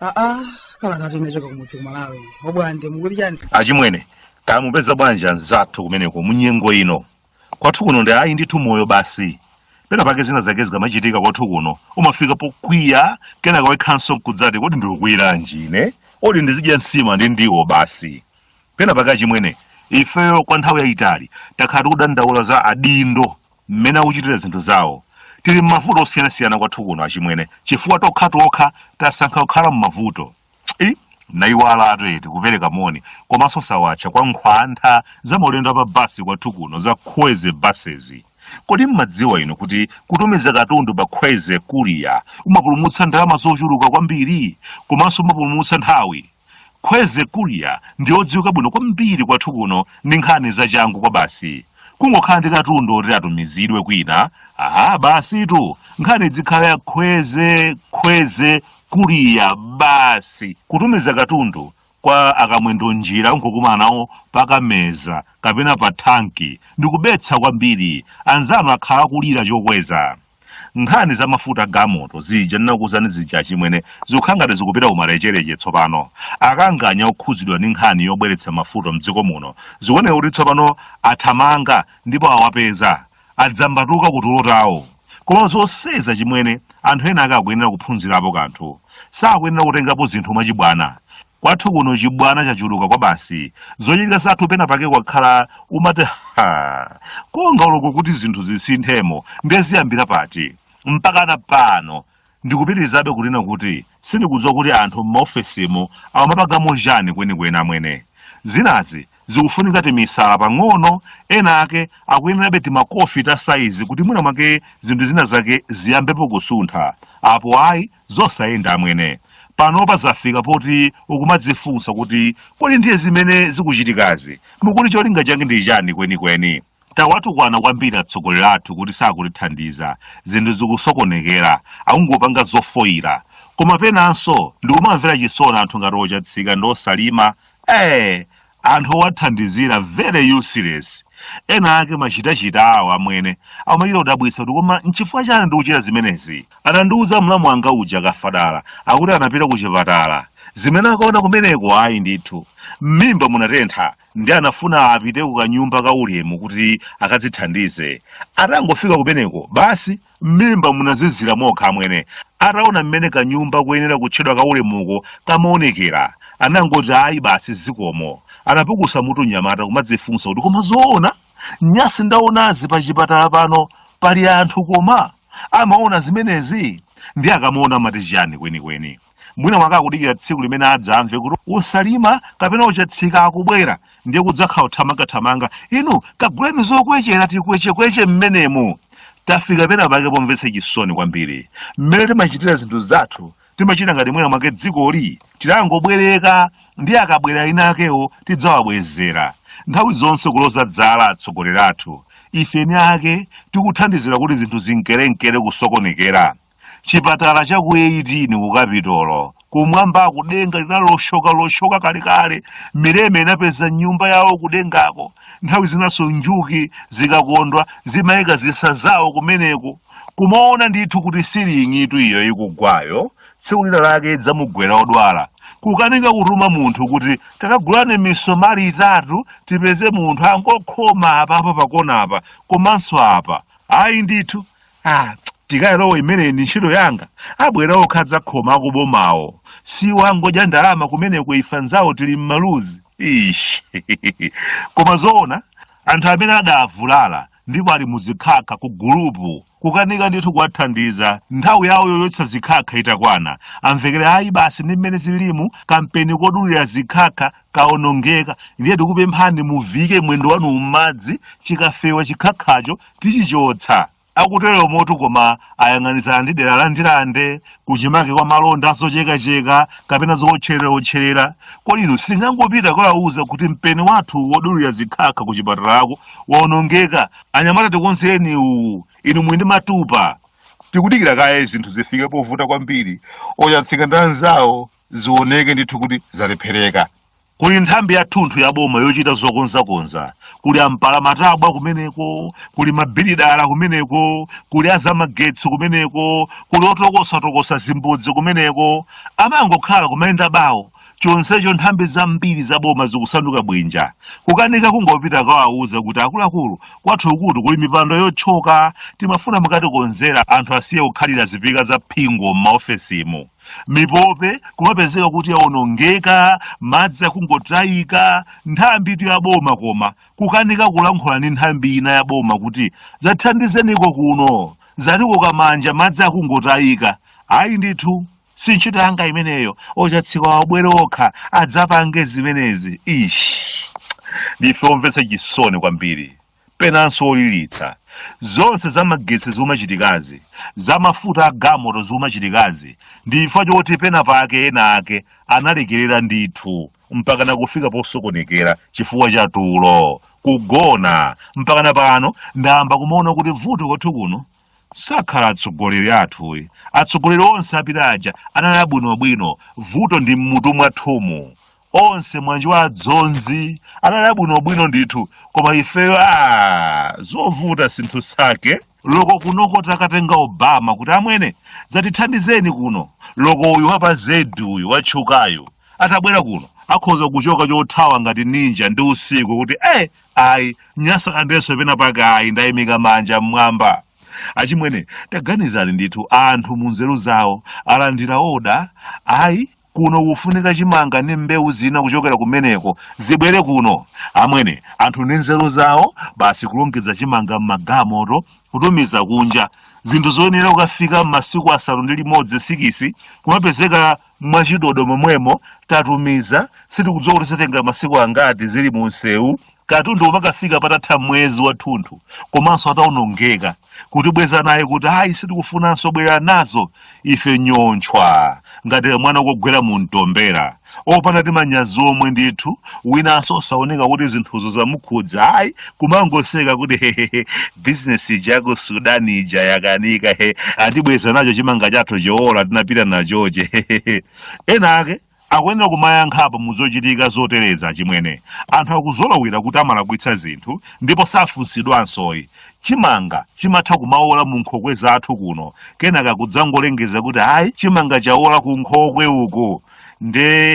aa kala kati unachoka kumudzi kumalawi bwande mukuti chani achimwene kaya mupeza bwanji anzathu kumeneko munyengo ino kwathu kuno ndi ayi ndithu moyo basi pena pake zina zake zikamachitika kwathu kuno umafika pokwiya kenaka wekhanso nkudzati kodi ndikukwiranji ine oti ndizidya nsima ndi ndiwo basi pena pake achimwene ifeyo kwa nthawi yayitali takhala tikudandaula za adindo mmene akuchitira zinthu zawo tili m'mavuto osiyanasiyana kwathu kuno achimwene chifukwa tokha tokha tasankha kukhala m'mavuto i nayiwala atueti kupereka moni komanso sawatcha kwa nkhwantha za maulendo a pabasi kwathu kuno za Kwezy Buses kodi mmadziwa inu kuti kutumiza katundu pa Kwezy Courier umapulumutsa ndalama zochuluka kwambiri komanso umapulumutsa nthawi Kwezy Courier ndi odziwika bwino kwambiri kwathu kuno ndi nkhani zachangu kwa basi kungokhala ndi katundu oti atumizidwe kwina aha basitu nkhani izikhala ya Kwezy Kwezy Courier basi kutumiza katundu kwa akamwendo njira nkukumana nawo pakameza kapena pa thanki ndikubetsa kwambiri anzanu akhala kulira chokweza nkhani za mafuta a galimoto zija ndinakuuzani zija achimwene zikukhala ngati zikupita kumalecheleche tsopano akanganya okhudzidwa ndi nkhani yobweretsa mafuta mdziko muno zikuoneka kuti tsopano athamanga ndipo awapeza adzambatuka ku tulo tawo koma zonsezi achimwene anthu ena ake akuyenera kuphunzirapo kanthu sakuyenera kutengapo zinthu mwachibwana kwathu kuno chibwana chachuluka kwa basi zochitika zathu pena pake kumakhala umati ha konga uloko kuti zinthu zisinthemo ndiye ziyambira pati mpaka na pano Ndikupitirizabe kunena kuti sindikudziwa kuti anthu m'maofesimu akumapangamo chani kwenikweni amwene. Zinazi zikufunika timisala pang'ono, ena ake akuyenerabe timakofi ta saizi kuti mwina mwake zinthu zina zake ziyambepo kusuntha. Apo ayi, zosayenda amwene. Panopa zafika poti ukumadzifunsa kuti kodi ndiye zimene zikuchitikazi mukuti cholinga chake ndi chani kwenikweni? tawatukwana kwambiri atsogoleri athu kuti sakutithandiza zinthu zikusokonekera akungopanga zofoyira koma penanso ndikumamvera chisoni anthu ngati ochatsika ndi osalima ee anthu owathandizira very useless ena ake machitachita awo amwene amachita kudabwitsa kuti koma nchifukwa chani ndikuchita zimenezi anandiuza mlamu wanga uja kafadala akuti anapita ku chipatala zimene akaona kumeneko ayi ndithu m'mimba munatentha ndi anafuna apite ku kanyumba ka ulemu kuti akadzithandize atangofika kumeneko basi m'mimba munazizira mokha amwene ataona mmene kanyumba kuyenera kutchedwa ka ulemuko kamaonekera anangoti ayi basi zikomo anapukusa mutu mnyamata kumadzifunsa kuti koma zoona nyasi ndaonazi pa chipatala pano pali anthu koma amaona zimenezi ndi akamaona amati chiyani kwenikweni mwina mwake akudikira tsiku limene adzamve kuti osalima kapena ochatsika akubwera ndiye kudzakhala kuthamangathamanga inu kaguleni zokwechera tikwechekweche mmenemo tafika pena pake pomvetsa chisoni kwambiri mmene timachitira zinthu zathu timachita ngati mwina mwake dzikoli tidangobwereka ndi akabwera eni akewo tidzawabwezera nthawi zonse kuloza dzala atsogoleri athu ife eni ake tikuthandizira kuti zinthu zinkerenkere kusokonekera chipatala cha ku 18 ku kapitolo kumwamba kudenga linaloshoka loshoka kalekale mileme inapeza nyumba yawo kudengako nthawi zinanso njuki zikakondwa zimayika zisa zawo kumeneko kumaona ndithu kuti siling'itu iyo ikugwayo tsiku lina lake idzamugwera odwala kukanika kutuma munthu kuti takagulani misomali itatu tipeze munthu angokhoma apapa pakonapa komanso apa ayi ndithu ah tikalowe imeneyi ndi ntchito yanga abwera okha adzakhoma akubomawo si wangodya ndalama kumeneko ife anzawo tili mmaluzi ish koma zoona anthu amene adavulala ndipo ali muzikhakha ku gulupu kukanika ndithu kuwathandiza nthawi yawo yochotsa zikhakha itakwana amvekere ayi basi ndi mmene zilimu kampeni kodulira zikhakha kaonongeka ndiye tikupemphani muvike mwendo wanu m'madzi chikafewa chikhakhacho tichichotsa akuteromotu koma ayang'anizana ndi dera la ndilande kuchimake kwa malonda azochekacheka kapena zootcherera-otcherera kodi inu sitingangopita kawauza kuti mpeni wathu wodulira zikhakha ku chipatalako waonongeka anyamata tikonzeni uwu inu muli ndi matupa tikudikira kaye zinthu zifike povuta kwambiri ochatsika ndi anzawo zioneke ndithu kuti zalephereka kuli nthambi yathunthu ya boma yochita zokonzakonza kuli ampalamatabwa kumeneko kuli mabilidala kumeneko kuli azamagetsi kumeneko kuli otokosatokosa zimbudzi kumeneko amangokhala kumayenda bawo chonsecho nthambi zambiri za boma zikusanduka bwinja kukanika kungopita kawauza kuti akuluakulu kwathu ukutu kuli mipando yotchoka timafuna mukatikonzere anthu asiye kukhalira zipika za phingo m'maofesimu mipope kumapezeka kuti yawonongeka madzi akungotayika nthambi tu yaboma koma kukanika kulankhula ndi nthambi ina yaboma kuti zathandizeniko kuno zatiko kamanja madzi akungotayika ayi ndithu si ntchito yanga imeneyo ochatsika wabwere okha adzapange zimenezi ish ndife omvetsa chisoni kwambiri penanso oliritsa zonse za magetsi zomachitikazi za mafuta a gamoto zomachitikazi ndi chifukwa choti pena pake ena ake analekerera ndithu mpakana kufika posokonekera chifukwa cha tulo kugona mpakana pano ndayamba kumaona kuti vuto kwathu kuno sakhala atsogoleri athuyi atsogoleri onse apita aja anali abwinobwino vuto ndi mmutu mwathumu onse mwanji wa adzonzi anali abwinobwino ndithu koma ifeyo a zovuta sinthu sake loko kunoko takatenga obama kuti amwene dzatithandizeni kuno loko uyu wapa zedi uyu watchukayu atabwera kuno akhoza kuchoka chothawa ngati ninja ndi usiku kuti eh ayi nyasalandenso pena pake ayi ndayimika manja mmwamba achimwene taganizani ndithu anthu mu nzeru zawo alandira oda ayi kuno kufunika chimanga ndi mbewu zina kuchokera kumeneko zibwere kuno amwene anthu ndi nzeru zawo basi kulongedza chimanga m'magamoto kutumiza kunja zinthu zoyenera kukafika m'masiku asanu ndi limodzi sikisi kumapezeka mwachidodo momwemo tatumiza sitikudziwa kuti zitenga masiku angati zili mu msewu katundu umakafika patatha mwezi wathunthu komanso ataonongeka kutibweza naye kuti ayi sitikufunanso bwerera nazo ife nyontchwa ngati mwana ukogwera mu mtombera opanda timanyazi omwe ndithu winanso osaoneka kuti zinthuzo zamukhudza ayi kumangoseka kuti hehehe bizinesi ija yaku sudan ija yakanika he atibweza nacho chimanga chathu choola tinapita nacho chija hehehe ena ake akuyenera kumayankhapo muzochitika zotereza achimwene anthu akuzolowera kuti amalakwitsa zinthu ndipo safunsidwansoyi chimanga chimatha kumaola mu nkhokwe zathu kuno kenaka kudzangolengeza kuti ayi chimanga chaola ku nkhokwe uku nde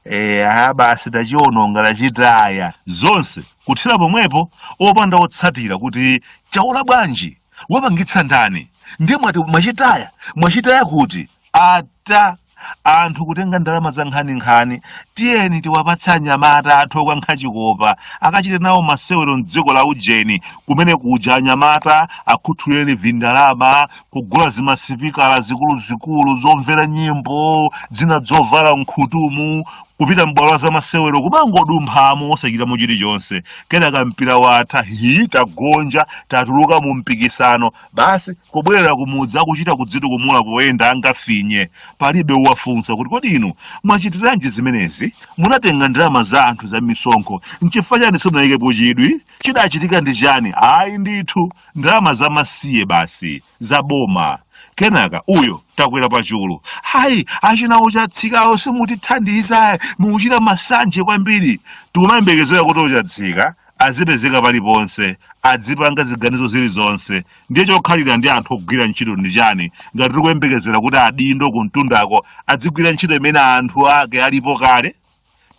eh, ah, basi tachiononga tachitaya zonse kuthera pomwepo opanda otsatira kuti chaola bwanji wapangitsa ndani ndiye mwati mwachitaya mwachitaya kuti ata anthu kutenga ndalama za nkhaninkhani tiyeni tiwapatse anyamata athu okankha chikopa akachite nawo masewero mdziko la ujeni kumene kuja anyamata akhuthulireni vindalama kugula zimasipikala zikuluzikulu zomvera nyimbo zina zovala mkhutumu kupita m'bwalo la zamasewero kumangodumphamo osachitamo chilichonse kenaka mpira watha hi tagonja tatuluka mu mpikisano basi kubwerera kumudzi akuchita kudzitukumula kuyenda angafinye palibe uwafunsa kuti kodi inu mwachitiranji zimenezi munatenga ndalama za anthu za misonkho nchifukwa chani simunayikepo chidwi chidachitika ndi chani ayi ndithu ndalama za masiye basi za boma kenaka uyo takwera pachulu ayi achina a Chatsikawo simutithandiza mukuchita masanje kwambiri tikumayembekezera kuti a Chatsika azipezeka paliponse adzipanga ziganizo zilizonse ndiye chokhalira ndi anthu ogwira ntchito ndi chani ngati tikuyembekezera kuti adindo kumtundako adzigwira ntchito imene anthu ake alipo kale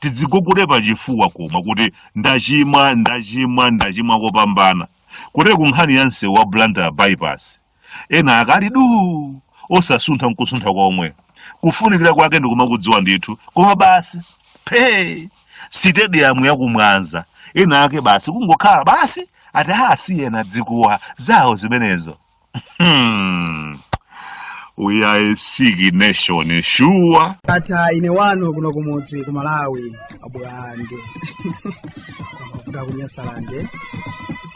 tidzigogude pachifuwa koma kuti ndachimwa ndachimwa ndachimwa kopambana kotero ku nkhani ya msewu wa Blantyre bypass ena akali duu osasuntha nkusuntha komwe kufunikira kwake ndikumakudziwa ndithu koma basi phee sitediyamu ya ku Mwanza ena ake basi kungokhala basi ati asiyeni dzikuwa zawo zimenezo Hmm. We are a sick nation, sure. ndatha ine wanu kuno kumudzi ku Malawi abwande kuda ku Nyasalande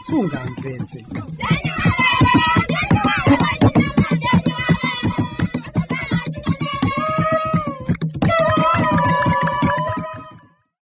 sungamvetse